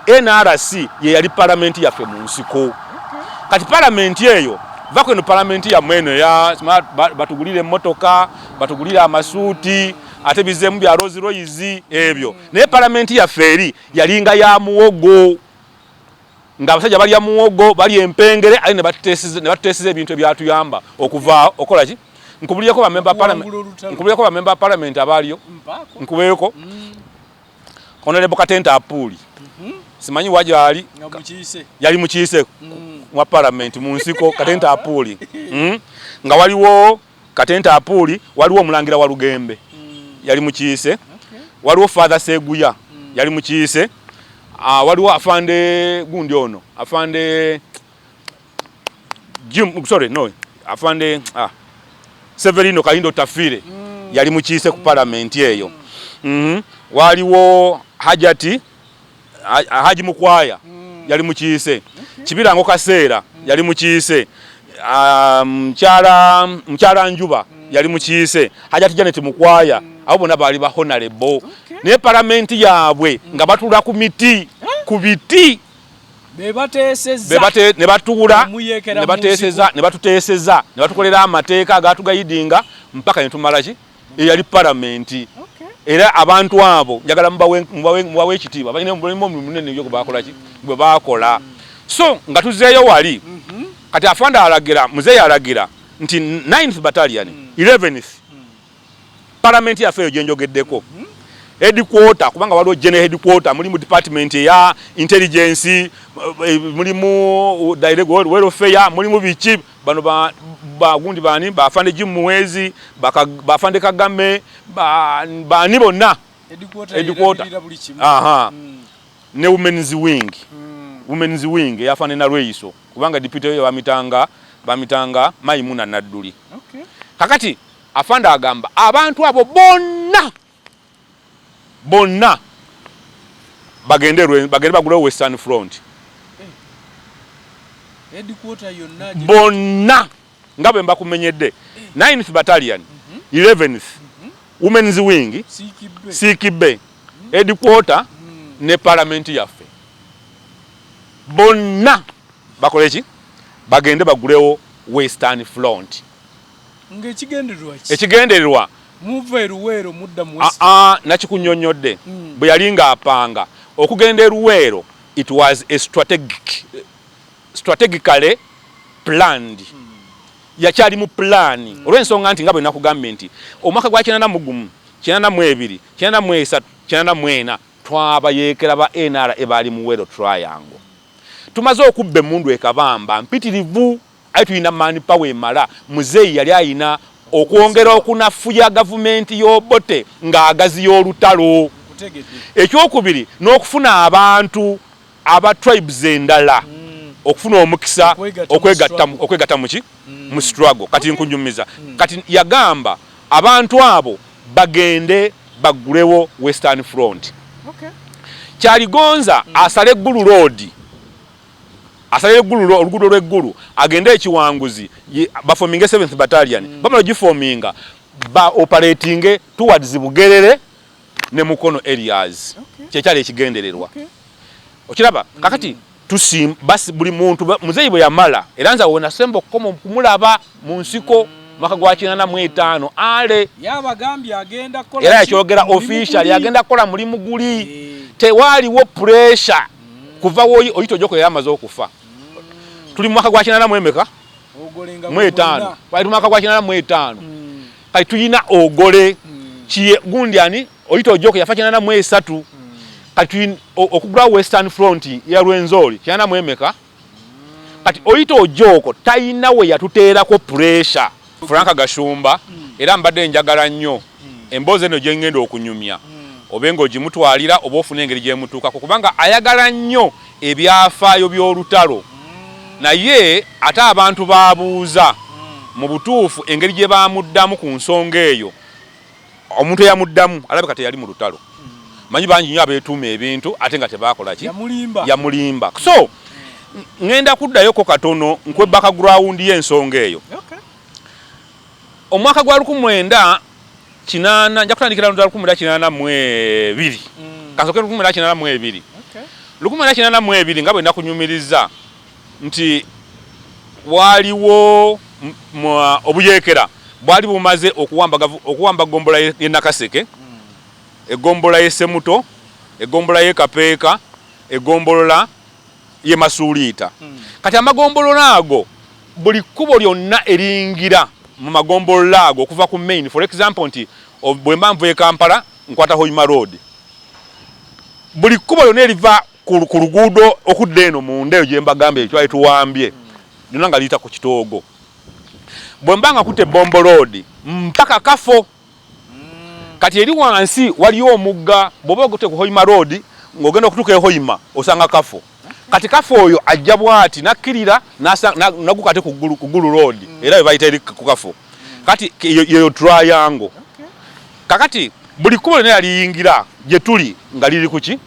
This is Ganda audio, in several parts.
nrc yeyali palamenti yaffe mu nsiko kati palamenti eyo vako eno palamenti yamwe eno batugulira emmotoka batugulira amasuuti ate bizemu bya rozi royizi ebyo naye palamenti yaffe eri yalinga ya muwogo nga abasajja balya muwogo bali empengere aye nebatutesiza ebintu ebyatuyamba okuva okolaki nkubulireko bamemba palamenti abaaliyo nkubeko mm. Honorable Katenta Apuuli mhm. simanyi wa gyali yali mukiise mm. mwa palamenti mu nsiko Katenta Apuuli hmm? nga waliwo Katenta Apuuli waliwo omulangira wa Lugembe mm. yali mukiise waliwo Father Seguya mm. yali mukiise ah, waliwo afande gundi ono afande Jim, sorry, no. Afande ah. Severino Kalindo Tafire mm. yali mukiise ku palamenti eyo. Mm. Mm -hmm. Waliwo Hajati Haji Mukwaya mm. yali mukiise. Okay. Kibirango Kaseera mm. yali mukiise. Um, mkyala mkyala Njuba mm. yali mukiise. Hajati Janet Mukwaya mm. abo bona baali ba honorable. Okay. Ne palamenti yaabwe mm. nga batula ku miti, huh? ku biti. ne batuula ne batuteeseza ne batukolera amateeka agaatugayidinga mpaka ne tumala ki eyali palamenti era abantu abo njagala mubawe ekitiibwa balina omulimu munene nyo gwebakola ki gwe baakola so nga tuzeeyo wali mhm. kati afande alagira muzeeyi alagira nti 9th battalion 11th mm. palamenti yaffe eyo gyenjogeddeko headquarter kubanga waliwo general headquarter mulimu department eya intelligence eh, mulimu direct welfare mulimu biki bano bagundi ba, bani bafande jimuwezi bafande kagame bani ba, bonna headquarter aha mm. ne women's wing mm. women's wing yafande na lweyiso kubanga deputy yo bamitanga bamitanga maimuna nadduli okay. kakati Afande agamba abantu abo bonna bonna bagende bagende bagulewo Western Front bonna nga bwe mbakumenyedde 9th Battalion 11th Women's Wing Sikibe headquarter hmm. ne parliament yaffe bonna bakole ki bagende bagulewo Western Front. Ng'ekigendererwa ki? Ekigendererwa muva e Luweero mudda mu West. Aa nakikunnyonnyodde mm. bwe yali ng'apanga okugenda e Luweero it was a strategic strategically planned mm. yakyali mu pulaani mm. olw'ensonga nti nga bwe nakugambye nti omwaka gwa kinana mu gumu kinana mu ebiri kinana mu esatu kinana mu ena twabayeekera ba nra e baali mu weero triangle tumaze okubba emmundu ekabamba mpitirivu Aye tulina man power emala. Muzeeyi yali alina okwongera okunafuya gavumenti y'Obote ng'agaziya olutalo. Ekyokubiri n'okufuna abantu aba tribes endala okufuna omukisa okwegatta mu ki? Mu struggle. Kati nkunyumiza. Kati yagamba abantu abo bagende baggulewo Western Front. Kyaligonza asale Gulu Road. asalira eggulu oluguudo lw'eggulu agende ekiwanguzi bafominge seventh battalion mm. bamala gifominga ba operatinge towards bugerere ne mukono areas okay. kyekyali ekigendererwa okay. okiraba mm. kakati tusim basi buli muntu muzeyi bwe yamala era nze wenasemba okukoma okumulaba mu nsiko mm. mwaka gwa kinana mu etaano ale era yakyogera official yagenda kukola mulimu guli eh. tewaaliwo pressure kuva woyi oyita ojoko yali amaze okufa tuli mu mwaka gwa kinana mu emeka mu etaano wali tumwaka gwa kinana mu etaano mm. kati tuyina ogole mm. kiye gundi ani oyita ojoko yafa kinana mu esatu mm. kati okugula western front ya lwenzori kinana mu emeka kati oyita ojooko talina we yatuteerako pureesha frank gashumba era mbadde njagala nnyo emboozi eno gye ngenda okunyumya obe ng'ogimutwalira oba ofuna engeri gyemutuukako kubanga ayagala nnyo ebyafaayo by'olutalo naye ate abantu baabuuza mu butuufu engeri gye baamuddamu ku nsonga eyo Omuntu eyamuddamu alabika teyali mu lutalo. Manyi bangi nnyo abeetuuma ebintu ate nga tebaakola ki? Yamulimba. So ŋŋenda kuddayoko katono nkwe background y'ensonga eyo. Omwaka gwa lukumi mwenda kinaana nja kutandikira mu lukumi mwenda kinaana mu ebiri. Kasooke lukumi mwenda kinaana mu ebiri. Lukumi mwenda kinaana mu ebiri nga bwe nakunyumirizza nti waaliwo obuyeekera bwali bumaze okuwamba ggombolola y'e Nakaseke, eggombolola y'e Semuto, eggombolola y'e Kapeeka, eggombolola y'e Masuuliita. Hmm. Kati amagombolola ago buli kkubo lyonna eringgira mu magombolola ago okuva ku main for example nti bwe mba nvuye Kampala nkwata Hoima Road, buli kkubo lyonna eriva ku luguudo okudda eno munda eyo gye mbagambye ye twali tuwambye lyonna nga liyita ku kitoogo bwe mba nga kutte bombo loodi mpaka kafo mm. kati eri wansi waliyo omugga bw'oba ogute ku hoima loodi ng'ogenda okutuuka ehoima osanga kafo kati kafo oyo ajja bwati nakkirira naguka ate ku ggulu loodi mm. era bwe bayita eri ku kafo mm. kati yeyo turayango kakati buli kkubo lyona yaliyingira gye tuli nga liri ku ki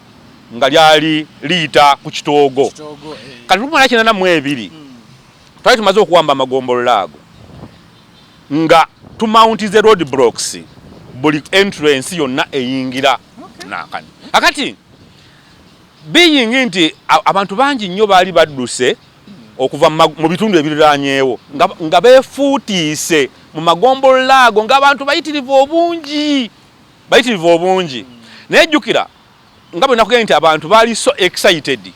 nga lyali liyita ku kitoogo eh. kati lumala kinana mu ebiri hmm. twali tumaze okuwamba amagombolola ago nga tumauntize road blocks buli entrance yonna eyingira nakani akati being nti abantu bangi nnyo baali badduse okuva mu bitundu ebiriranyeewo nga befuutiise mu magombolola ago ngaabantu bayitirivu obungi bayitirivu obungi naye jjukira nga bwe nakugenda nti abantu baali so excited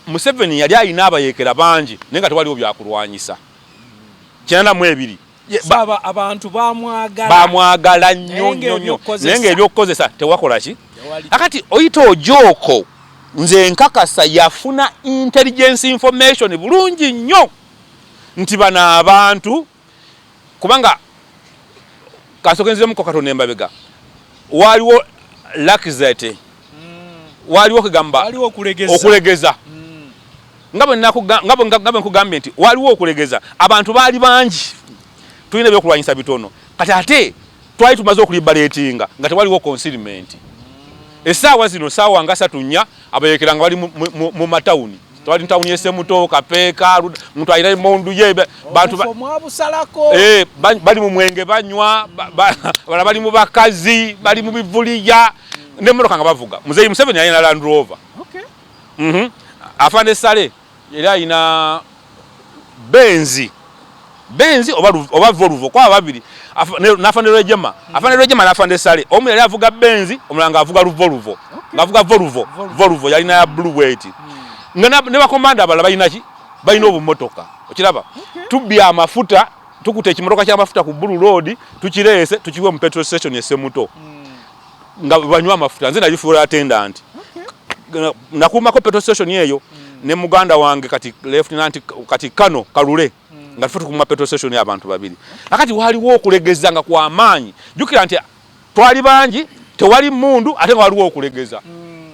museveni yali alina abayekera bangi naye nga tewaliwo byakulwanyisa kinana mu ebiri abantu bamwagala nnyo nnyo nnyo naye nga ebyokukozesa tewakola ki akati oyita ojooko nze nkakasa yafuna intelligence information bulungi nnyo nti bano abantu Kubanga kansooke nziremuko katonda embabega waaliwo lakizate mm. waaliwo kugamba okulegeza mm. nga bwe nkugambye nti waaliwo okulegeza abantu baali bangi tulina ebyokulwanyisa bitono kati ate twali tumaze okulibaleetinga nga tewaliwo consilmenti mm. esaawa zino saawa nga satu nya abayekera nga bali mu matawuni twali tawuni esemuto kapeeka muntu alina emondu ye bantu eh, bali mu mwenge banywa bala bali mu bakazi bali mu bivuliya nemotoka nga bavuga muzeyi museveni alina land rover mhm. afande sale Era alina benzi benzi oba oba voluvo kwa babiri nafande rejema afande rejema nafande sale omu yali avuga benzi omulanga avuga luvoluvo okay. ngavuga voluvo voluvo yali na blue weight mm. nga ne bakomanda abala balina ki balina obumotoka okiraba okay. tubbi amafuta tukute ekimotoka kyamafuta ku bulu road tukireese tukiwe mu petrol station esemuto mm. nga banywa amafuta nze nabifuula attendant okay. nakuumako petrol station eyo mm. ne muganda wange kati lieutenant kati kano kalule mm. nga tufe tukuuma petrol station abantu babiri akati waliwo okulegeza nga kwa maanyi jukira nti twali bangi tewali mundu ate nga waliwo okulegeza mm.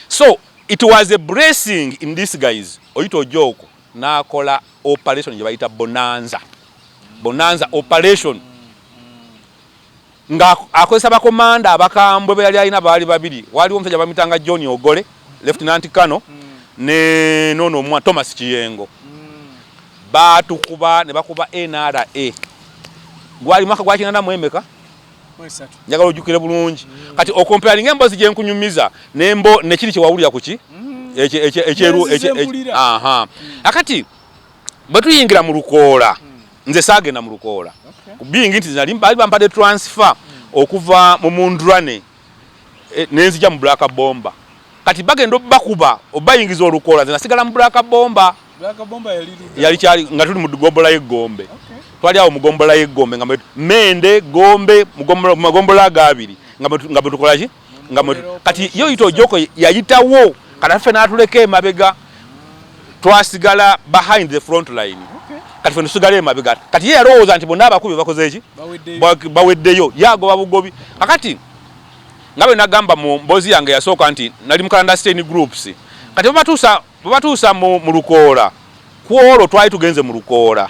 so it was a blessing in this guys oyita ojoko nakola operation gye bayita bonanza bonanza operation mm. Nga akozesa bakomanda abakambwe be yali alina baali babiri, waaliwo omusajja bamitanga John Ogole, Lieutenant Kano, mm. ne nono omwa Thomas Kiyengo. Mm. Baatukuba ne bakuba NRA. Gwali mwaka gwa kinana mu emeka? Njagala ojjukire bulungi. Mm. Kati okomparinga embozi gye nkunyumiza nembo nekiri kye wawulira kuki? Mm. Ekyeru ekye. Aha. Akati bwe tuyingira mu lukoola nze saagenda mu lukoola biyingi nti nali baali bampadde transfer okuva mu mundrane eh, nenzija mu black bomba kati bagenda obakuba obayingiza olukoola nze nasigala mu black bomba yali kyali nga tuli mu gombola y'eggombe twali awo mugombola y'eggombe nga mende gombe magombola agaabiri nga bwetukolaki nga kati yo yita ojoko yayitawo kata ffe natuleka emabega twasigala behind the front line kati ffe tusigala emabega kati ye yalowooza nti bonna abakubi bakoze eki baweddeyo yagoba bugobi akati nga bwe nagamba mu mboozi yange yasooka nti nali mu clandestine groups kati babatuusa babatuusa mu lukoola ku olwo twali tugenze mu lukoola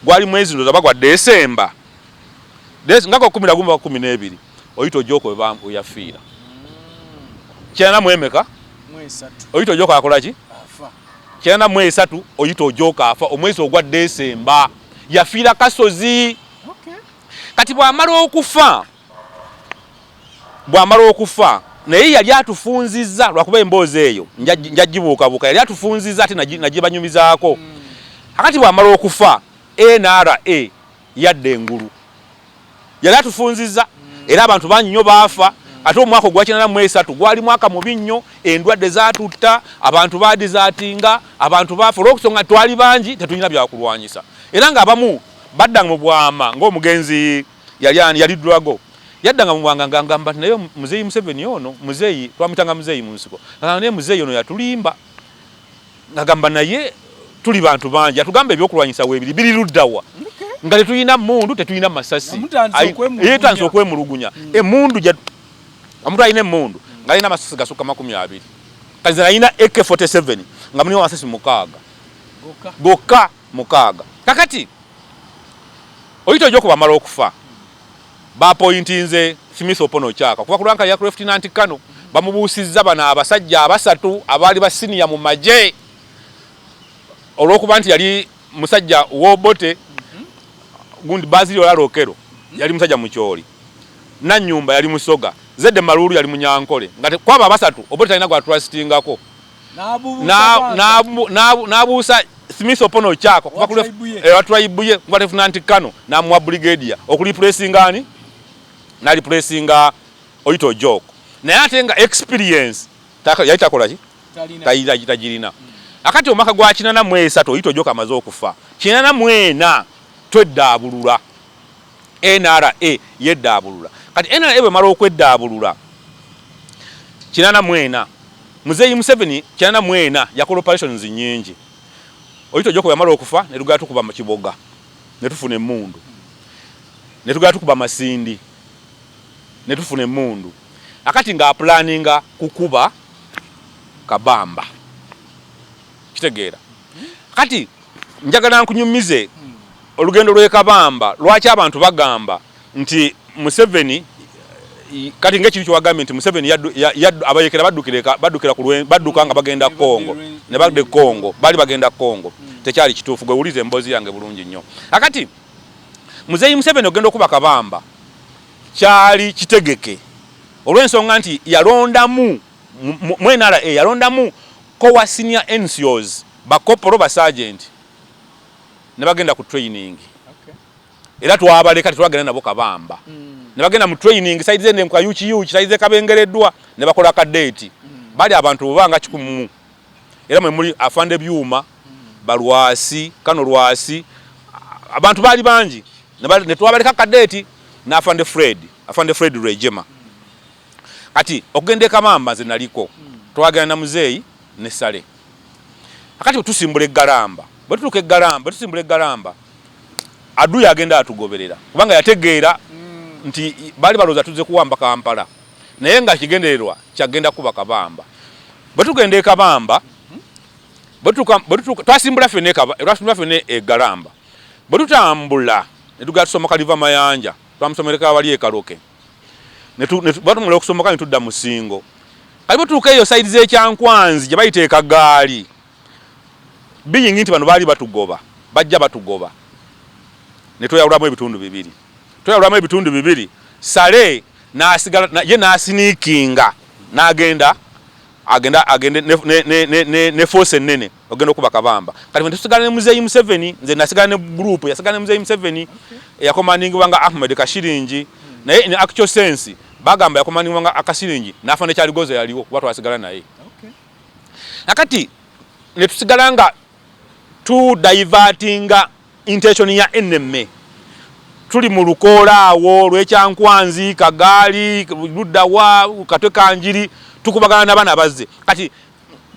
gwali mwezi ndoza bagwa desemba nga gwakumira gumu bakumi n'ebiri oyita ojoko bambu yafiira kyana mwemeka oyita ojoko akola ki kyana mwe esatu oyita ojoko afa omwezi ogwa December yafiira kasozi kati bwamala okufa bwamala okufa naye yali atufunziza lwakuba emboozi eyo njagibuukabuuka yali atufunziza ate nagibanyumizaako akati bwamala okufa nra Yadda engulu yali atufunziza era abantu bangi nnyo baafa ate omwaka ogwakinana mu esatu gwali mwaka mubi nnyo endwadde zatutta abantu baadizaatinga abantu baafa olwokusonga twali bangi tetulina byakulwanyisa era nga abamu baddanga mu bwama ngaomugenzi yali ani yali drago yaddanga mubwanga ngangamba nti naye muzeeyi museveni ono muzeeyi twamutanga muzeeyi mu nsiko naye muzeeyi ono yatulimba Ngagamba naye tuli bantu bangi atugamba ebyokulwanyisa webiri biri luddawa nga tetulina mundu tetulina masasi yetandise okwemulugunya mm. emundu omuntu alina emundu ngalina amasasi gasukka makumi abiri kati alina ak47 nga mulimu amasasi mukaaga gokka mukaaga kakati oyita oja okubamala okufa Baapoyintinze Smith Opono Ochaka okuva ku lanka ya Lieutenant Colonel bamubuusizza bano abasajja abasatu abaali ba siniya mu magye olw'okuba nti yali musajja w'Obote gundi Bazili Olaro Okero yali musajja mukyoli Nanyumba yali musoga Zedde Maluulu yali munyankole nga kwabo abasatu Obote talina gwa trustingako n'abuusa Smith Opono Okyako kuva ku tribe ye kuva Lieutenant Kano n'amuwa brigadier okulipulesinga ani n'alipulesinga Oyita Ojok naye ate nga experience yali takola ki tagirina hmm. akati omwaka gwa kinana mu esatu Oyita Ojok amaze okufa kinana mu ena tweddaabulula NRA yeddaabulula. Kati NRA bwemala okweddaabulula kinana mu ena, Muzeeyi Museveni kinana mu ena yakola operations nnyingi. Oyitojoko bweyamala okufa ne tugenda tukuba mu Kiboga ne tufuna emmundu, ne tugenda tukuba Masindi ne tufuna emmundu, kakati ng'apulaaninga kukuba Kabamba. Okitegeera? Kati Njagala nkunyumize olugendo lw'ekabamba lwaki abantu bagamba nti Museveni kati nga ekintu kyewagambye nti Museveni abayekera badduka nga bagenda Congo ne badda Congo baali bagenda Congo hmm. tekyali kituufu gwe wuliza emboozi yange bulungi nnyo akati muzeeyi Museveni ogenda okuba kabamba kyali kitegeke olw'ensonga nti yalondamu mu NRA yalondamu kowa senior NCOs Bakkoppolo, basaajenti ne bagenda ku training era twabaleka tetwagenda nabo kabamba mm. ne bagenda mu training saidi zende nkuka yuki yuki saidi ze kabengereddwa ne bakola ka date mm. bali abantu obanga kikumu era mwe muli afande byuma mm. balwasi kano lwasi abantu bali bangi ne twabaleka ka date na afande Fred afande Fred Rejema kati okugenda e kabamba nze naliko mm. twagenda na muzeyi ne sale Kakati bwe tusimbula eggalamba, bwe tutuuka eggalamba, bwe tusimbula eggalamba, Aduyi agenda atugoberera kubanga yategeera nti baali balowooza tuzze kuwamba Kampala naye nga kigendererwa kyagenda kuba Kabamba. Bwe tugenda e Kabamba, bwe tutuuka, bwe tutuuka, twasimbula ffenna e Kaba, twasimbula ffenna e Galamba. Bwe tutambula ne tugenda tusomoka Liva Mayanja, twamusomereka wali e Kaloke. batumula okusomoka ne tudda mu singo kati butuuka eyo saidi z'ekyankwanzi gye bayita ekagaali biyingi nti bano baali batugoba bajja batugoba ne tweyawulamu ebitundu bibiri tweyawulamu ebitundu bibiri sale nasigala ye nasiniikinga n'agenda agenda agende ne, ne, ne, ne, ne force ennene ogenda okuba kabamba kati fe tusigala ne muzeeyi museveni nze nasigala ne group yasigala ne muzeeyi museveni eyakomandingibwa nga ahmed kashiringi naye in actual sense bagamba yakomandingibwa nga akasiringi nafa nekyaligoza yaliwo kuba twasigala naye nakati netusigala nga tu divertinga intention ya enemy tuli mu lukoola awo lwekyankwanzi kagaali luddawa katwe kanjiri tukubagana nabana bazze kati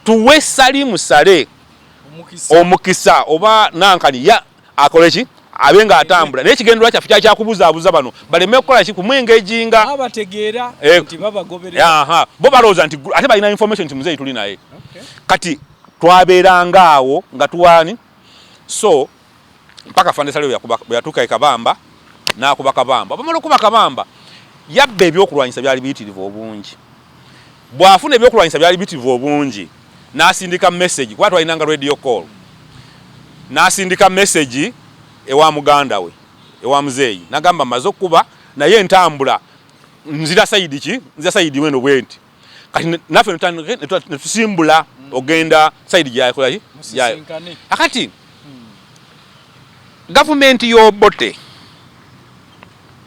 tuwe salimu sale omukisa oba nankani ya akole ki abe nga atambula naye kigendera kyaffe kyali kyakubuzaabuza bano baleme kukola ki kumwengejinga eh, bo balowooza nti ate balina information nti muzeeyi tuli naye kati twabeeranga awo nga tuwaani so mpaka afande sale bweyatuuka e kabamba n'akuba kabamba bamala okuba kabamba yabba ebyokulwanyisa byali biyitirivu obungi bw'afuna ebyokulwanyisa byali biyitirivu obungi n'asindika message kuba twalinanga radio call n'asindika message ewa muganda we ewa muzeeyi nagamba maze okukuba naye ntambula nzira sayidi ki nzira sayidi weno bwenti kati naffe netusimbula hmm. ogenda saidi gyayakolaki gyayo akati hmm. gavumenti y'obote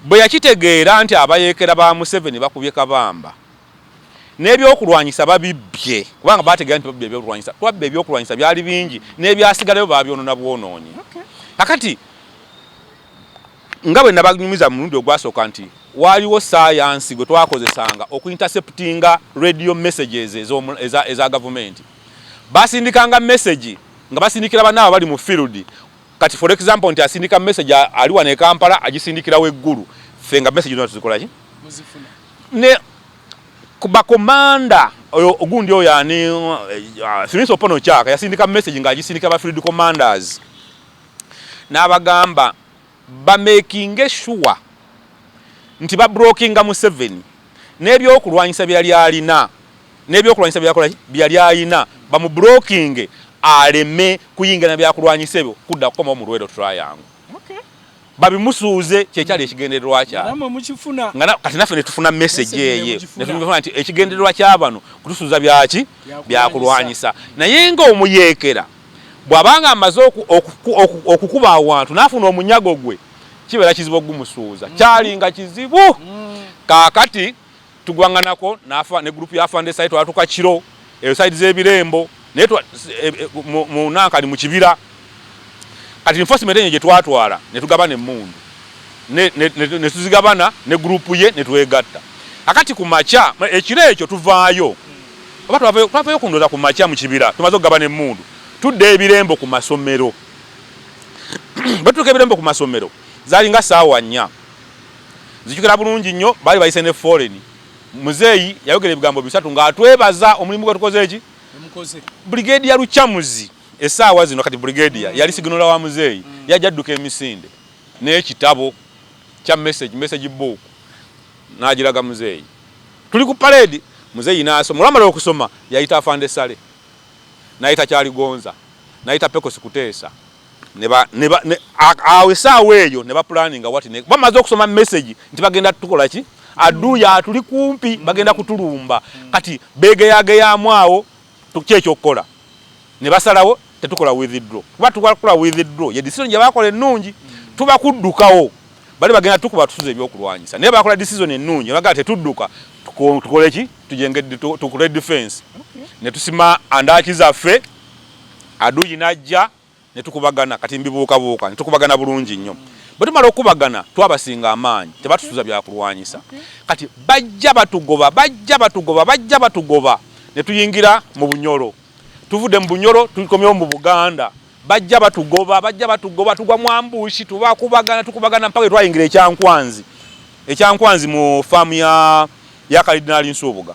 bwe yakitegeera nti abayeekera ba museveni bakubye kabamba n'ebyokulwanyisa babibbye kubanga bategeera nti babbi ebyokulwanyisa twabba ebyokulwanyisa byali bingi n'ebyasigalayo babyonona bwonoonyi kakati Nga bwe nabanyumiza mu mulundi ogwasooka nti waaliwo ssaayansi gwe twakozesanga okuinterceptinga radio messages eza eza gavumenti. Baasindikanga mesegi nga basindikira banaabwe abali mu field kati for example nti asindika mesegi ali wano e Kampala agisindikira we Gulu ffe nga mesegi zonna tuzikola ki? Ne ku bakomanda oyo ogundi oyo ani uh, Smith Opono Chaka yasindika mesegi ng'agisindikira ba field commanders N'abagamba bameekinge shuwa nti babrookinga Museveni n'ebyokulwanyisa bye yali alina n'ebyokulwanyisa bye yakola ki, bye yali alina bamubrookinge aleme kuyingira na byakulwanyisa ebyo kudda kukomawo mu Luweero Triangle. babimusuuze kyekyali ekigendererwa kyabwe nga kati naffe netufuna message eye netufuna nti ekigendererwa kyabano kutusuuza byaki byakulwanyisa naye nga omuyeekera Bw'aba ng'amaze okukuba awantu n'afuna omunyago gwe, kibeera kizibu okugumusuuza. Mm-hmm. Kyali nga kizibu. Mm. Kaakati tugwaŋŋanako ne gurupu ya Fande Sayi, twatuka kiro eyo sayidi z'ebirembo e, e, mu Nankali mu kibira. Kati enforcement enyo gye twatwala ne tugabana emmundu ne tuzigabana ne gurupu ye ne twegatta. Akati ku makya ekiro ekyo tuvaayo. Oba twavayo twavayo ku ndoza ku makya mu kibira tumaze okugabana emmundu tudde ebirembo ku masomero bwe tutuuka ebirembo ku masomero zalinga saawa nnya nzijukira bulungi nnyo baali bayise ne foreign muzeeyi yayogera ebigambo bisatu ng'atwebaza omulimu gwe tukoze eki brigade ya lukyamuzi esaawa zino kati brigade ya yali siginola wa muzeeyi mm. yajja adduka emisinde n'ekitabo kya message message book n'agiraga muzeeyi tuli ku paleedi muzeeyi n'asoma. Olwamala okusoma yayita Afande Ssale, n'ayita Kyaligonza, n'ayita Pekosi Kuteesa ne ba, ne ba, ne, awo essaawa eyo ne bapulaninga wati ne bamaze okusoma mesegi nti bagenda tukola ki aduuya atuli kumpi bagenda kutulumba kati beegeyageyaamu awo tukye ekyokukola ne basalawo tetukola withdraw kuba tukola withdraw ye decision gye bakola ennungi tuba kuddukawo bali bagenda tukuba tusuze ebyokulwanyisa naye bakola decision ennungi bagala tetudduka tukole ki tujenge tukole defense ne tusima andaki zaffe aduyi najja ne tukubagana kati mbibuukabuuka ne tukubagana bulungi nnyo. Bwe tumala okukubagana twabasinga amaanyi, tebatusuza bya kulwanyisa. Kati bajja batugoba, bajja batugoba, bajja batugoba ne tuyingira mu Bunyoro. Tuvudde mu Bunyoro tukomyewo mu Buganda, bajja batugoba, bajja batugoba, tugwa mu ambuushi, tubakubagana, tukubagana mpaka bwe twayingira e Kyankwanzi, e Kyankwanzi mu faamu ya Kalidinaali Nsubuga.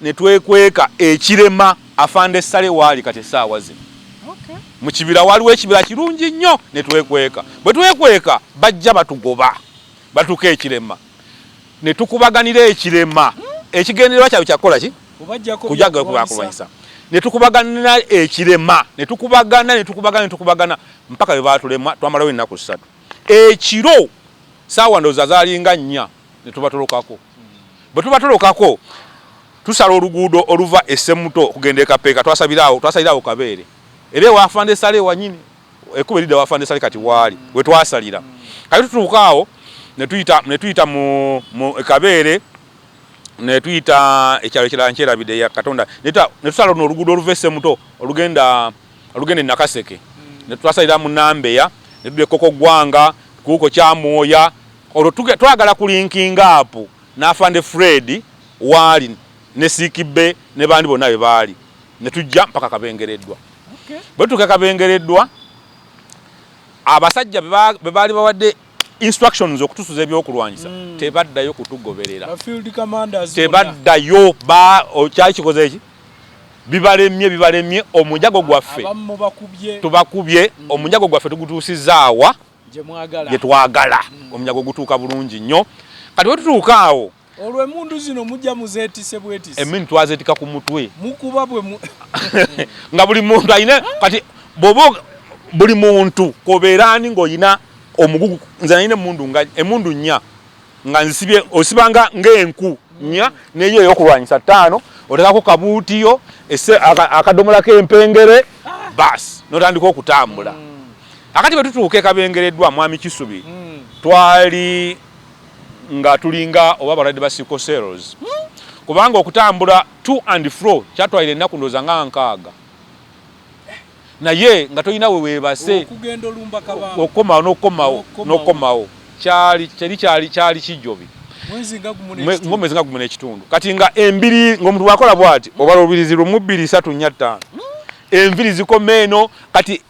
ne twekweka ekirema afande sale waali kati essaawa zino mu kibira waliwo ekibira kirungi nnyo ne twekweka bwe twekweka bajja batugoba batuuka ekirema ne tukubaganira ekirema ekigendererwa kyabwe kyakukola ki kujaga kubakulwanyisa ne tukubaganira ekirema ne tukubagana ne tukubagana ne tukubagana mpaka bwe baatulema twamalawo ennaku ssatu ekiro saawa ndooza zaalinga nnya ne tubatolokako bwe tuba tulokako tusala oluguudo oluva e Ssemuto okugenda e Kapeeka twasalirawo twasalirawo Kabeere era ewa Afande Sale wanyini ekkubo eridda wa Afande Sale kati waali we twasalira kati tutuuka awo ne tuyita ne tuyita mu e Kabeere ne tuyita ekyalo ekirala nkyerabidde ya Katonda ne tusala luno oluguudo oluva e Ssemuto olugenda olugenda e Nakaseke ne twasalira mu Nambeya ne tudda e Kokogwanga kuuko Kyamwoya Olwo twagala ku linkinga apu n'afande Fred waali ne Siikibbe ne bandi bonna bwe baali ne tujja mpaka Kabengereddwa. Bwe tutuuka Kabengereddwa abasajja be baali bawadde instructions okutusuza ebyokulwanyisa mm. tebaddayo kutugoberera tebaddayo kyali kikoze eki bibalemye bibalemye omunjago gwaffe tubakubye mm. omunjago gwaffe tugutuusizaawa gye twagala mm. omunyago gutuuka bulungi nnyo kati wetutuuka awo olwo emundu zino mujja muzetise bwetise emundu twazetika ku mutwe mukuba bwe nga buli muntu alina kati bobo buli muntu kobeera ani ng'olina omugugu nze nalina emundu nga emundu nnya nga nzisibye osibanga ng'enku nnya neyo eyokulwanyisa ttaano otekako kabuutiyo akadomola k'empengere baasi notandika okutambula hmm. akati bwe tutuuka ekabengereddwa mwami kisubi hmm. twali nga tulinga oba abalwadde ba sickle cells hmm. kubanga okutambula to and fro kyatwalira ennaku ndooza nga nkaaga naye nga tolina we weebase okukomawo n'okukomawo n'okukomawo kyali teri kyali kyali kijjobi mwezi nga gumu n'ekitundu kati nga embiri ng'omuntu bw'akola bw'ati obala olubirizi lumu bbiri satu nnya ttaano hmm? enviri zikoma eno kati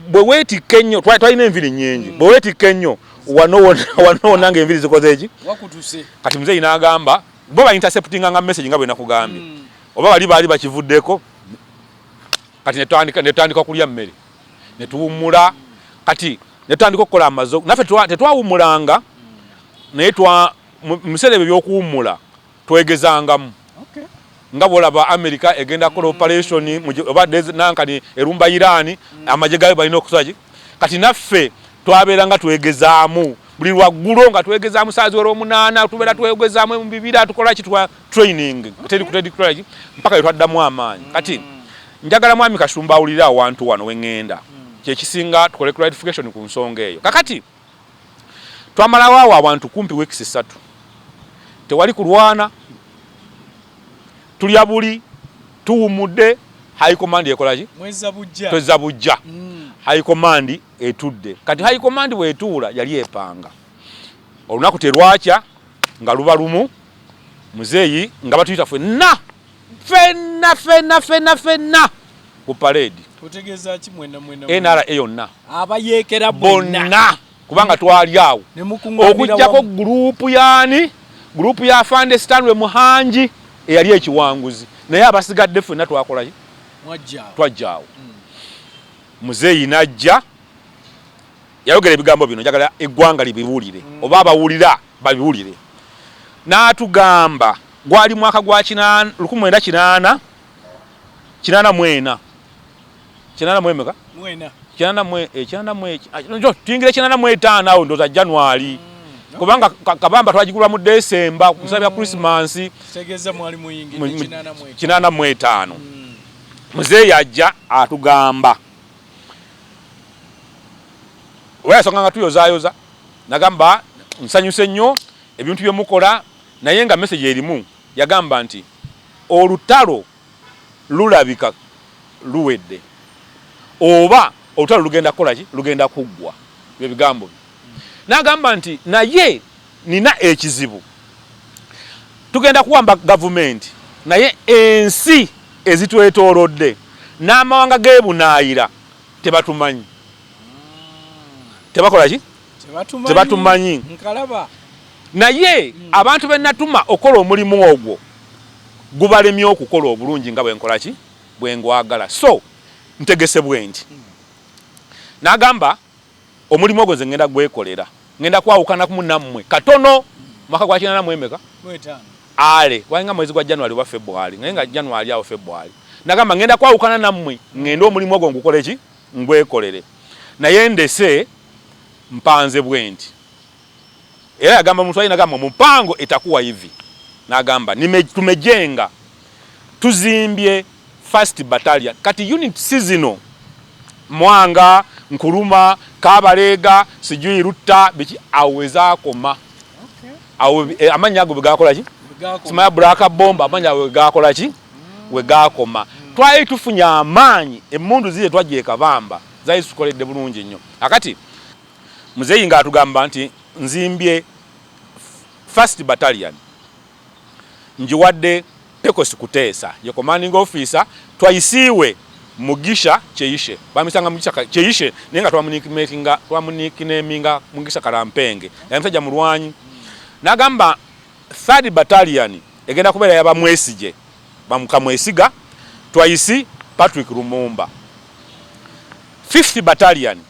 bwe weetikka ennyo twalina enviri nnyingi hmm. bwe weetikka ennyo wanoona nga enviri zikoze eki kati muzeeyi n'agamba bo ba interceptinga nga message nga bwe nakugambye hmm. oba bali baali bakivuddeko kati netandika okulya mmere netuwummula kati netandika okukola amazo naffe tetwawummulanga naye mubiseera ebyo byokuwummula twegezangamu nga bwolaba america egenda kukola operation oba nankani erumba irani mm. amagye gayo balina okusolaki kati naffe twabeera nga twegezaamu buli lwaggulo nga twegezaamu saaziwera omunaana tubeera twegezaamu mubibira tukolaki training teri kutedi courage mpaka yetwaddamu amaanyi mm. kati njagala mwami kasumba awulire awantu wano wengenda mm. kyekisinga tukole clarification ku nsonga eyo kakati twamalawo awo abantu kumpi weeks ssatu tewali kulwana tulya buli tuwumudde high command ekolaki twezza bujja mm. high command etudde kati high command bwetuula yali epanga olunaku terwakya nga luba lumu muzeeyi nga batuyita fenna fenna fenna fenna fenna ku paleedi nra yonna bonna kubanga twali awo okujjako gurupu yaani gurupu ya fande stanley muhangi eyali ekiwanguzi naye abasigadde fenna twakolayo twajjaawo hmm. muzeeyi najja Yayogera ebigambo bino, njagala eggwanga libiwulire mm. oba abawulira babiwulire. N'atugamba gwali mwaka gwa lukumi mwenda kinaana kinaana mwena kinaana mwemeka kinaana mwe ekinaana eh, mwe ah, njo tuyingira kinaana mwe etaano awo ndoza January mm, kubanga kabamba twagigula mu December mm. kusabya Christmas tegeza mwali muyingira kinaana mwe etaano mm. mzee yajja atugamba oba yasanga nga tuyozayoza nagamba nsanyuse nnyo ebintu byemukola naye nga message erimu yagamba nti olutalo lulabika luwedde oba olutalo lugenda kukolaki lugenda kuggwa byebigambo nagamba nti naye Nina ekizibu. Tugenda kuwamba gavumenti naye ensi ezitwetoolodde n'amawanga g'ebunaayira tebatumanyi. Tebakola ki? Tebatumanyi. Naye hmm. abantu be natuma okukola omulimu ogwo gubalemye okukola obulungi nga bwenkola ki bwengwagala so ntegese bwendi hmm. nagamba Omulimu ogwo nze ngenda gwekolera, ngenda kwawukanakumu nammwe katono. Mwaka gwa kinana mu emeka? Gwetaano. Ale, gwalinga mwezi gwa January oba February, naye nga January awo February. Nagamba ngenda kwawukana nammwe, ngende omulimu ogwo ngukole ki? Ngwekolere. Naye ndese mpanze bwenti. Era yagamba omuntu ali nagamba mupango etakuwa hivi nagamba tumejenga tuzimbye first battalion kati unit sizino mwanga nkuluma kabaleega sijui rutta biki awezakoma awo eh, amanya ago bwegakola ki simaya bulaka bomba amanya awo bwegakola ki wegakoma mm. twali tufunye amaanyi emundu ziye twajeka bamba zayisukoledde bulungi nnyo akati Muzeeyi nga atugamba nti nzimbye first battalion njiwadde Pecos Kuteesa ye commanding officer Twaisiiwe Mugisha Cheishe bamisanga Mugisha Cheishe naye nga twamunikimetinga twamunikineminga Mugisha Karampenge yali musajja mulwanyi nagamba third battalion egenda kubeera yaba Mwesigye bamukamwesiga Twaisi Patrick Lumumba fifth battalion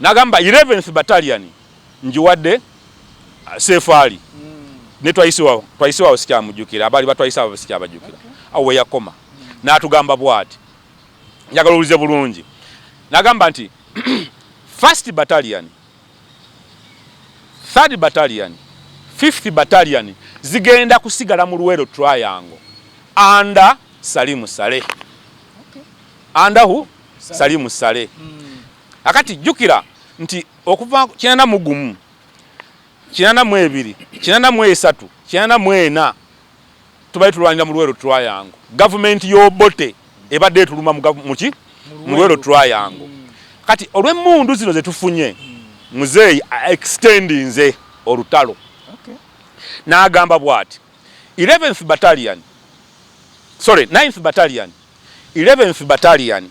Nagamba 11th battalion njiwadde uh, sefaali ne twayisiwawo twayisiwawo sikyamujukira abali batwayisa abo sikyabajukira okay. awo weyakoma natugamba bwati njagala owulize bulungi nagamba nti first battalion third battalion fifth battalion zigenda kusigala mu luwero triangle anda salimu sale okay. andahu salimu sale mm. Akati jukira nti okuva kinana mu gumu kinana mu ebiri kinana mu esatu kinana mu ena tubali tulwanira mu lwero twayangu gavumenti y'obote ebadde etuluma muki mu lwero twayangu kati olw'emmundu zino zetufunye muzeeyi extendinze olutalo n'agamba bwati 11th battalion sorry 9th battalion 11th battalion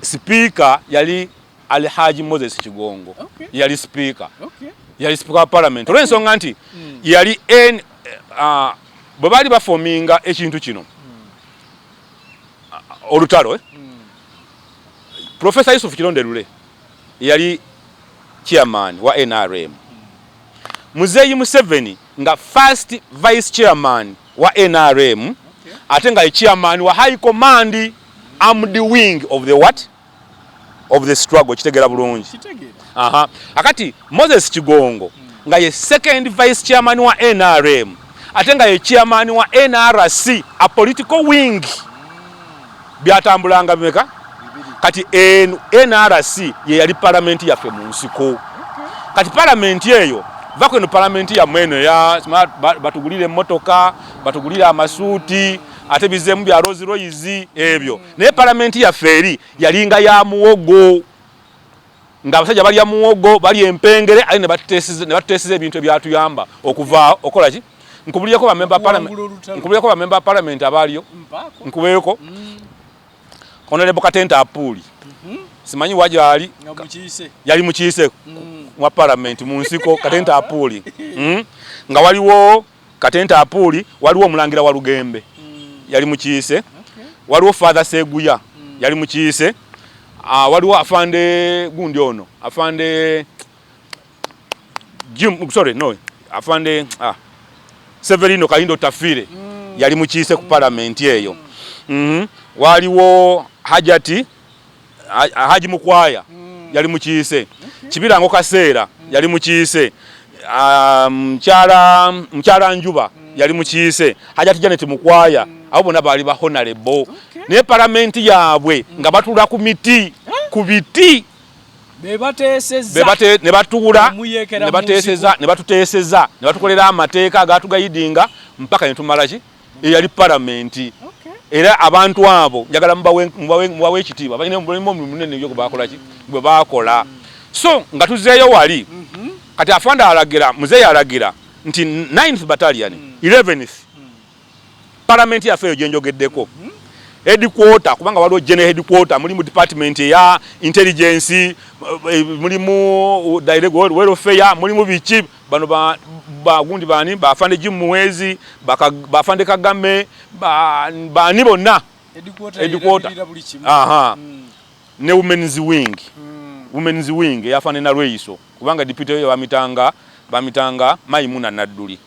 Sipiika yali Ali Haji Moses Kigongo okay. yali sipiika okay. yali sipiika wa palamenti okay. olw'ensonga nti mm. yali en, uh, bwe baali bafominga ekintu kino mm. uh, olutalo eh? mm. Profesa Yusuf Kirondelule yali chairman wa NRM mm. Muzeeyi Museveni nga first vice chairman wa nrm okay. ate nga ye chairman wa high command armed wing of the what of the struggle kitegera bulungi aha akati moses kigongo mm. nga ye second vice chairman wa nrm ate nga ye chairman wa nrc a political wing mm. byatambulanga bimeka kati nrc ye yali palamenti yaffe mu nsiko kati palamenti eyo vako eno palamenti yammwe eno batugulire emmotoka batugulire amasuuti ate bizeemu bya rosi royizi ebyo naye palamenti yaffe eri yalinga ya muwogo nga abasajja balya muwogo balya empengere aye nebatutesiza ebintu ebyatuyamba okuvaawo okola ki nkubulireko bamemba palamenti abaaliyo nkubeeko mm. onalebo katente apuuli mhm. simanyi wajaali yali mukiise mm. mwa palamenti mu nsiko katente apuuli mm. nga waliwo Katente Apuuli, waliwo Omulangira Walugembe yali mukiise, waliwo Father Seguya yali mukiise, ah, waliwo afande gundi ono afande Jim, sorry no afande ah, Severino Kalindo Tafire mm. yali mukiise ku palamenti eyo mm. mm -hmm. waliwo Hajati Haji Mukwaya mm. yali mukiise okay. Kibirango Kaseera mm. yali mukiise mukyala um, mukyala Njuba mm. yali mukiise Hajati Janet Mukwaya mm. abo bona baali ba honorable okay. ne paramenti yaabwe mm. nga batula ku miti eh? ku biti ne batuula ne batuteeseza ne batukolera amateeka agaatugayidinga mpaka ne tumalaki eyali palamenti era abantu abo njagala mubawe ekitiibwa balina omulimu munene yo gwebakolaki gwe bakola so nga tuzeeyo wali mhm. kati afande alagira muzeeyi alagira nti 9th battalion 11th mm. mm. palamenti yaffe eyo gyenjogeddeko mhm. headquarter kubanga waliwo general headquarter mulimu department eya intelligence eh, mulimu uh, direct welfare mulimu biki bano bagundi bani bafande jim muwezi bafande kagame bani bonna edikwota hmm. ne womens wing hmm. womens wing eyafande nalweyiso kubanga dipite yo bamitanga bamitanga mayimuna nadduli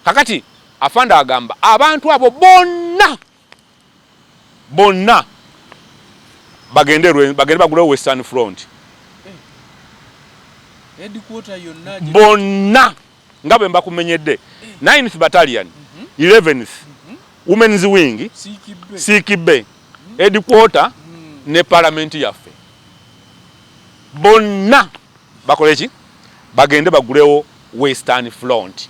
kakati afande agamba abantu abo bonna bonna bagende lwe bagende bagulewo western front eh, headquarter yonna bonna nga bwe mbakumenyedde eh. ninth battalion 11th mhm. mhm. women's wing sikibe mhm. headquarter ne parliament yaffe bonna bakole ki bagende bagulewo western front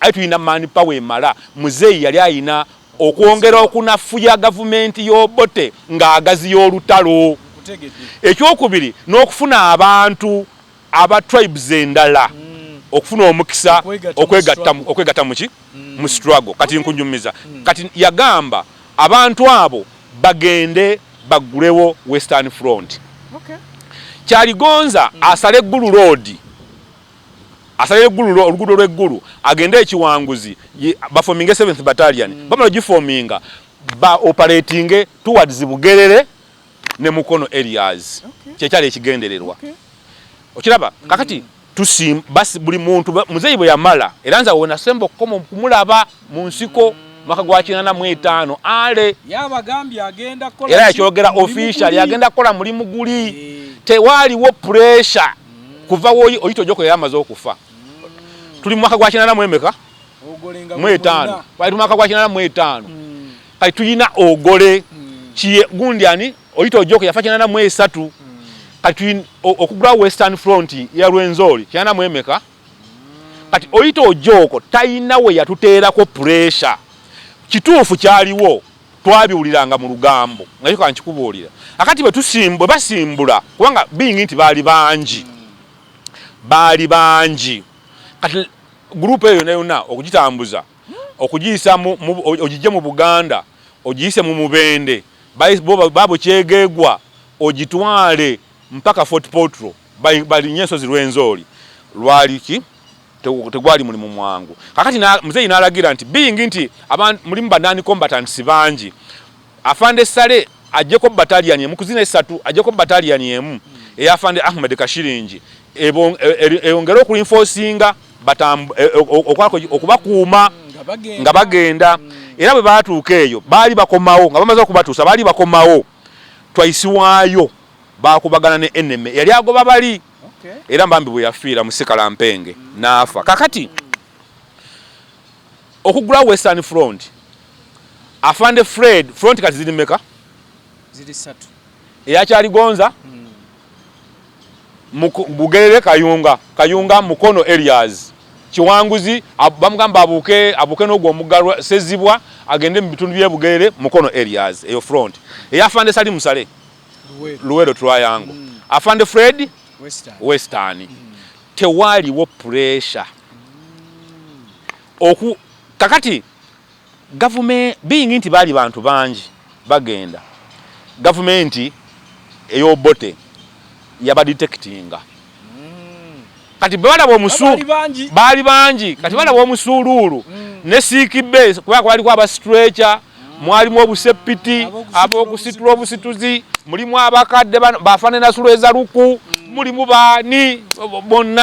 Aye tulina man power emala. Muzeeyi yali alina okwongera okunafuya gavumenti y'Obote ng'agaziya olutalo. Ekyokubiri n'okufuna abantu aba tribes endala okufuna omukisa okwegatta mu ki? Mu struggle. Kati nkunyumiza. Kati yagamba abantu abo bagende baggulewo Western Front. Kyaligonza asale Gulu Road. asalira eggulu oluguudo lw'eggulu agende ekiwanguzi bafominge seventh battalion mm. bamala gifominga ba operatinge towards bugerere ne mukono areas okay. kyekyali ekigendererwa okay. okiraba mm. kakati tusim basi buli muntu muzeeyi bwe yamala era nze wenasemba okukoma okumulaba mu nsiko mm. mwaka gwa kinana mu etaano ale era yakyogera official yagenda kukola mulimu guli eh. tewaaliwo pressure kuva woyi oyita ojoko yali amaze okufa tuli mu mwaka gwa kinana mu emeka mu etaano wali tumwaka gwa kinana mu etaano mm. kati tuyina ogole mm. kiye gundi ani oyita ojoko yafa kinana mu esatu mm. kati tuyina okugula western front ya lwenzori kinana mu emeka kati oyita ojoko tayina we yatuteerako pressure kituufu kyaliwo twabiwuliranga mu lugambo nga kyoka nkikubuulira akati bwe basimbula kubanga biyingi nti baali bangi baali bangi kati gurupu eyo yona yona okugitambuza okugiyisa ogijje mu buganda ogiyise mu mubende babo kyegegwa ogitwale mpaka fort potro balinye ensozi lwenzooli lwaliki tegwali mulimu mwangu kakati na mzeyi nalagira nti being nti aban mulimu banani combatants bangi afande sale ajeko battalion emu kuzina esatu ajeko battalion emu eya afande ahmed kashiringi ebon e, e, eyongere oku reinforcinga batam e, okwako okubakuuma nga bagenda mm. era bwe batuuka eyo baali bakomawo nga bamaze okubatuusa baali bakomawo twaisiwaayo bakubagana ne enemy yali agoba bali era mbambi bwe yafiira musikala mpenge n'afa kakati okugula western front afande fred front kati ziri meka eyakyaligonza hmm. bugerere kayunga kayunga mukono elias kiwanguzi bamugamba abuuke abuuke n'ogwo omugalwa sezibwa agende mu bitundu byebugerere mukono elias eyo front eyafande sali musale Luwero Triangle mm. Afande Fred Western, Western. Mm. tewaliwo pressure mm. oku kakati gavumenti being nti baali bantu bangi bagenda gavumenti eyobote yabadetectinga kati balaba omusuulu baali bangi kati balaba mm. omusuuluulu mm. ne siikibbe kubanga kwaliko abasitreca mm. mwalimu obuseppiti abokusitula obusituzi mulimu abakadde bafanenasulueza luku mulimu baani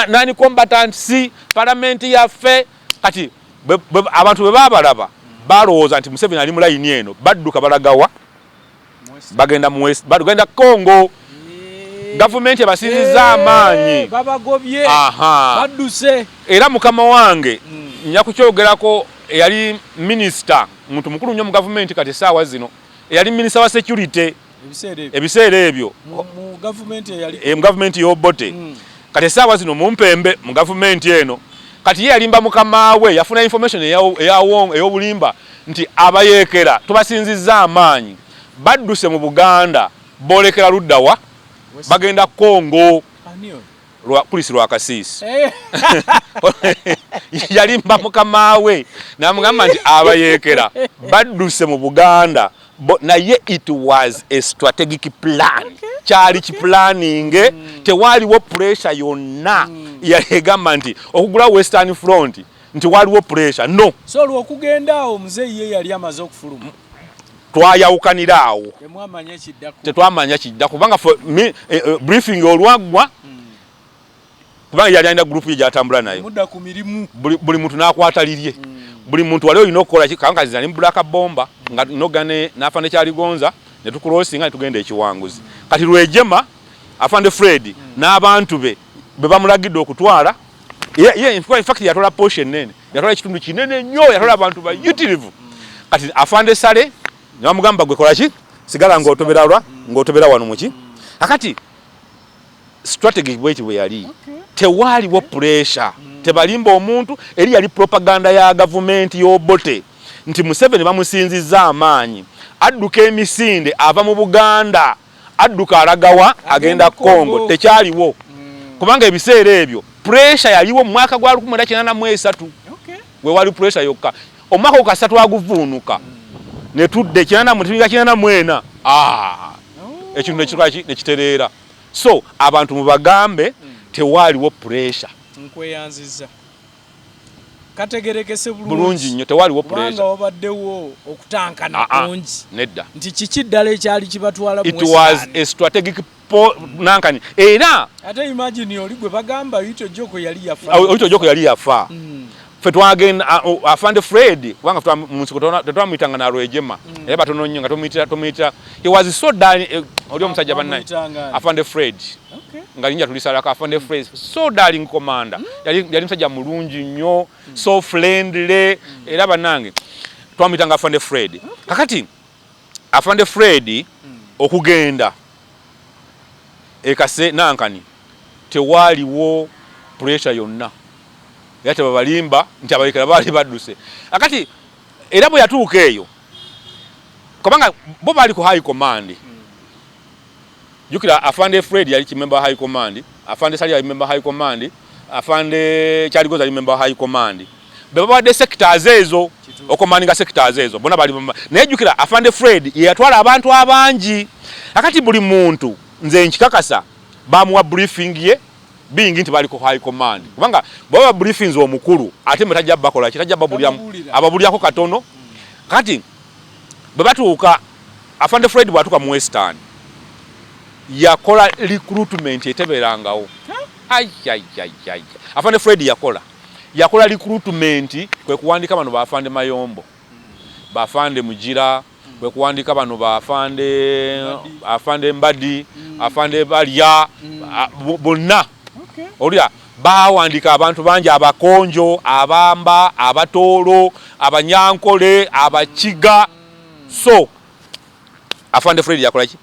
nani combatants palamenti yaffe kati abantu bwe babalaba balowooza nti museveni ali mu layini eno badduka balagawa bagenda mu west bagenda Congo gavumenti ebasinziza eh, amaanyi babagobye badduse era mukama wange hmm. nja kukyogerako eyali minisita muntu mukulu nnyo mu gavumenti kati esaawa zino eyali minisita wa security ebiseera ebyo mu gavumenti yobote eh, hmm. kati esaawa zino mumpembe mu gavumenti eno kati ye yalimba mukama we yafuna information eyawobulimba nti abayeekera tubasinzizza amaanyi badduse mu Buganda boolekera ludda wa? Bagenda Congo. Chris Lwakasiisi yalimba mukama we namugamba nti abayeekera badduse mu Buganda naye it was a strategic plan kyali kipulaninge mm. tewaaliwo puresha yonna mm. yali egamba nti okugula western front nti waliwo pressure no so olwo okugenda awo muzeeyi ye yali amaze okufuluma twayawukanira awo tetwamanya kidda kubanga eh, eh, briefing olwaggwa hmm. kubanga yali alina gurupu ye gyatambula nayo buli muntu nakwata lirye hmm. buli muntu wali olina okukola kankaziza ne mubulaka bomba nga nogane nafa nekyaligonza netukulosinga netugenda ekiwanguzi kati lwejema afande fred hmm. n'abantu be bebamulagidde okutwala Yeah, yeah, in fact yatola portion nene. Yatola kitundu kinene nnyo, yatola abantu ba utilivu. Kati afande sale, ngamugamba gwe kola ki? Sigala ngotobera lwa, ngotobera wano muki. Akati strategy bweti bwe yali. Okay. Tewali wo pressure. Mm. Tebalimba omuntu, eri yali propaganda ya government yo bote. Nti Museveni bamusinzizza amaanyi. Adduka emisinde ava mu Buganda. adduka alagawa agenda Congo tekyaliwo mm. kubanga ebiseera ebyo pressure yaliwo mu mwaka gwa 1983 we wali pressure yokka omwaka okasatu aguvuunuka ne tudde kinana mu tibinga kinana mwena ah oh. ekintu nekikola ki nekitereera so abantu mubagambe mm. tewaliwo pressure nkweyanziza kategerekese bulungi nnyo tewaliwo puleza wabaddewo okutankana ah, ah, kungi nedda nti kiki ddala ekyali kibatwala it was a strategic nankani era ate imagine oli gwe bagamba oyita ojoko yali yafa oyita ojoko yali yafa hmm. fe twagenda afande fred kubanga twa munsiko tetwamuyita nga nalwejema hmm. era batono nnyo nga tumuyita tumuyita he was so done eh, oli omusajja bannaye afande fred okay. nga linja tulisalako afa ne phrase so darling commander mm. yali, yali msajja mulungi nnyo mm. so friendly mm. era banange twamuyitanga afande fred okay. kakati afande fred mm. okugenda ekase nankani tewaaliwo pressure yonna era tebabalimba nti abalekera baali badduse akati era bwe yatuuka eyo kubanga bo baali ku high command mm. jukira afande fred yali kimemba high command afande sali yali member high command afande kyaligoza yali member high command bebabadde sectors ezo okomaninga sectors ezo bona bali naye jukira afande fred yeyatwala abantu abangi akati buli muntu nze nkikakasa bamuwa briefing ye bingi nti bali ku high command kubanga baba briefings omukulu ate mwe tajja bakola kitajja babulya ababulyako katono kati Bwe batuuka, Afande Fred bw'atuuka mu Western, yakola recruitment etebeerangawo. Ayayayaya. Afande Fred yakola. Yakola recruitment kwe kuwandiika bano ba Afande Mayombo, ba Afande Mugira, kwe kuwandiika bano ba Afande, Afande Mbadi, Afande Balya, a- bo- bonna. Okay. Olya Baawandiika abantu bangi Abakonjo, Abamba, Abatooro, Abanyankole, Abakiga so Afande Fred yakola ki?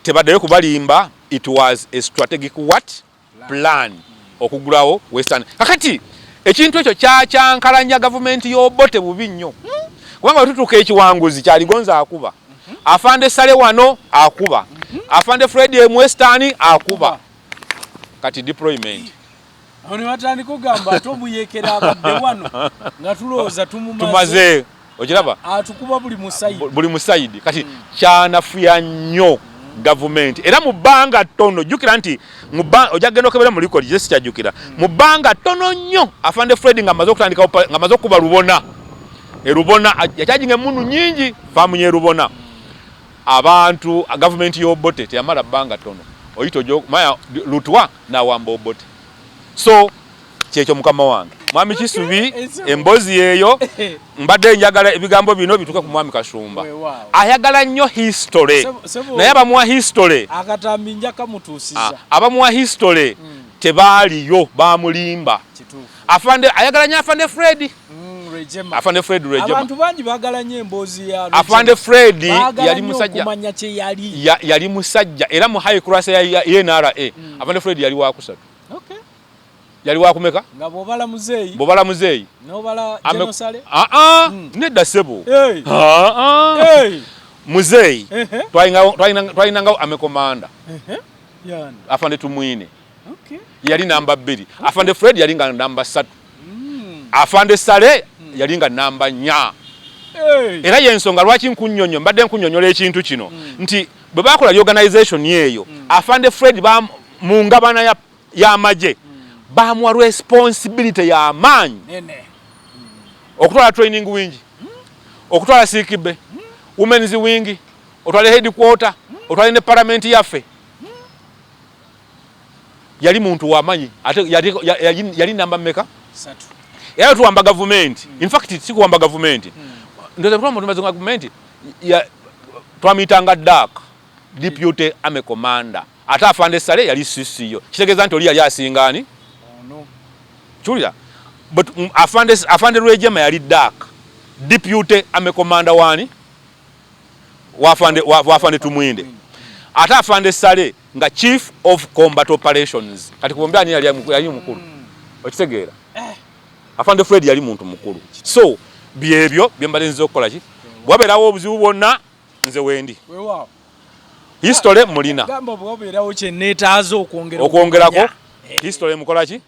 Tebaddayo kubalimba, it was a strategic what plan okugulawo Western. Kakati ekintu ekyo kyakyankalanya gavumenti y'Obote bubi nnyo hmm? kubanga wetutuuka ekiwanguzi kyaligonza akuba Afande Sale wano akuba Afande Fred Mwestani akuba kati deployment awo ne batandika okugamba ate omuyekera abadde wano nga tulowooza tumumaze okiraba atukuba buli musayidi buli musayidi kati mm. kyanafuya nnyo mm. gavumenti era mu bbanga ttono jjukira nti ojja kugenda okebera mu likodi kye sikyajjukira mm. mu bbanga ttono nnyo afande fred nga amaze okutandika nga amaze okukuba lubona erubona yakyajinga emundu nyingi faamu yerubona mm. Abantu gavumenti y'Obote teyamala bbanga ttono oyita ojo maya lutwa n'awamba Obote so kyekyo mukama wange mwami Kisubi emboozi yeeyo mbadde njagala ebigambo bino bituuke ku mwami Kashumba ayagala nnyo history naye abamuwa history akatambi njakamutuusiza ah, abamuwa history hmm. tebaaliyo bamulimba Afande ayagala nya afande Fred. Mm, Rejema. Afande Fred Rejema. Abantu bangi bagala nya embozi ya Rejema. Afande Fred yali musajja. Kumanya kye yali. Ya, yali musajja era mu high class ya, ya, ya NRA. Mm. Afande Fred yali wa kusatu. Okay. Yali wa kumeka? Nga bobala muzeyi. Bobala muzeyi. Nobala Ame... genocide. Ah ah. Mm. Nedda sebo. Hey. Ah ah. Hey. Muzeyi. Uh -huh. Twainga twainga twainga amekomanda. Uh -huh. Yanda. Afande tumwine. okay. yali namba bbiri okay. afande fred yali nga namba ssatu mm. afande sale mm. yali nga namba nya hey. era yensonga lwaki nkunyonyo mbadde nkunyonyola ekintu kino mm. nti bwe bakola reorganization eyo mm. afande fred mu ngabana y'amagye mm. bamuwa responsibility y'amaanyi mm. okutwala training wing mm. okutwala sikibe mm. women's wing otwale headquarter mm. otwale ne paramenti yaffe yali muntu wamanyi ate yali namba meka era tuwamba gavumenti hmm. infact sikuwamba gavumenti hmm. ndozetwamutumazi gavumenti twamuyitanga dak deputy ame commander ate afande sale yali sisiyo kitegeeza nti oli yali asingaani oh, kiwulira but mm, afande, afande lwejema yali dak deputy ame commander wani wafande, wafande tumwinde ate afande sale nga chief of combat operations kati kubombi ani yali yali mukulu okitegeera eh. afande fred yali muntu mukulu so byebyo byembale nze okukola ki bwaberawo obuzibu bwonna nze wendi history mulina okwongerako eh. history mukola ki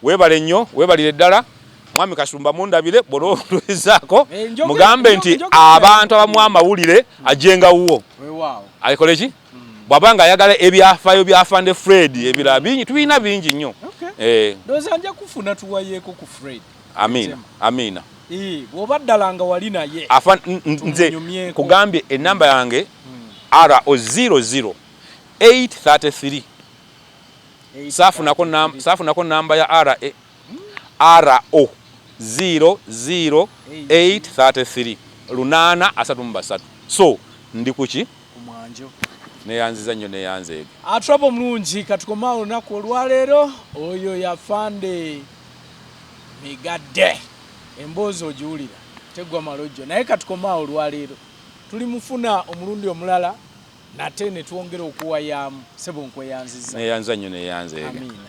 webale nnyo webalire ddala mwami kasumba mundabire bwolwoluizaako eh, mugambe nti abantu abamu amawulire ajenga wuwo akoleki bwaba nga ayagala ebyafayo bya Fande Fred ebirala bingi tulina bingi nnyo eh. ndoza nja kufuna tuwayeko ku Fred Amina Amina eh bwoba ddala nga wali naye afa nze kugambye enamba yange hmm. RO 00 833 safunako nam safunako namba ya RA RO 00 833 lunana asatu mu basatu so ndi kuki ku mwanjo. Neyanziza nnyo neyanzeege. Atrap omulungi katukome awo olunaku olwaleero oyo yafande migadde emboozi ogiwulira teggwa malojjo naye katukome awo olwaleero tuli mufuna omulundi omulala nate netwongera okuwayaamu sebo nkweyanziza. Neyanziza nnyo neyanzeege. Amiina.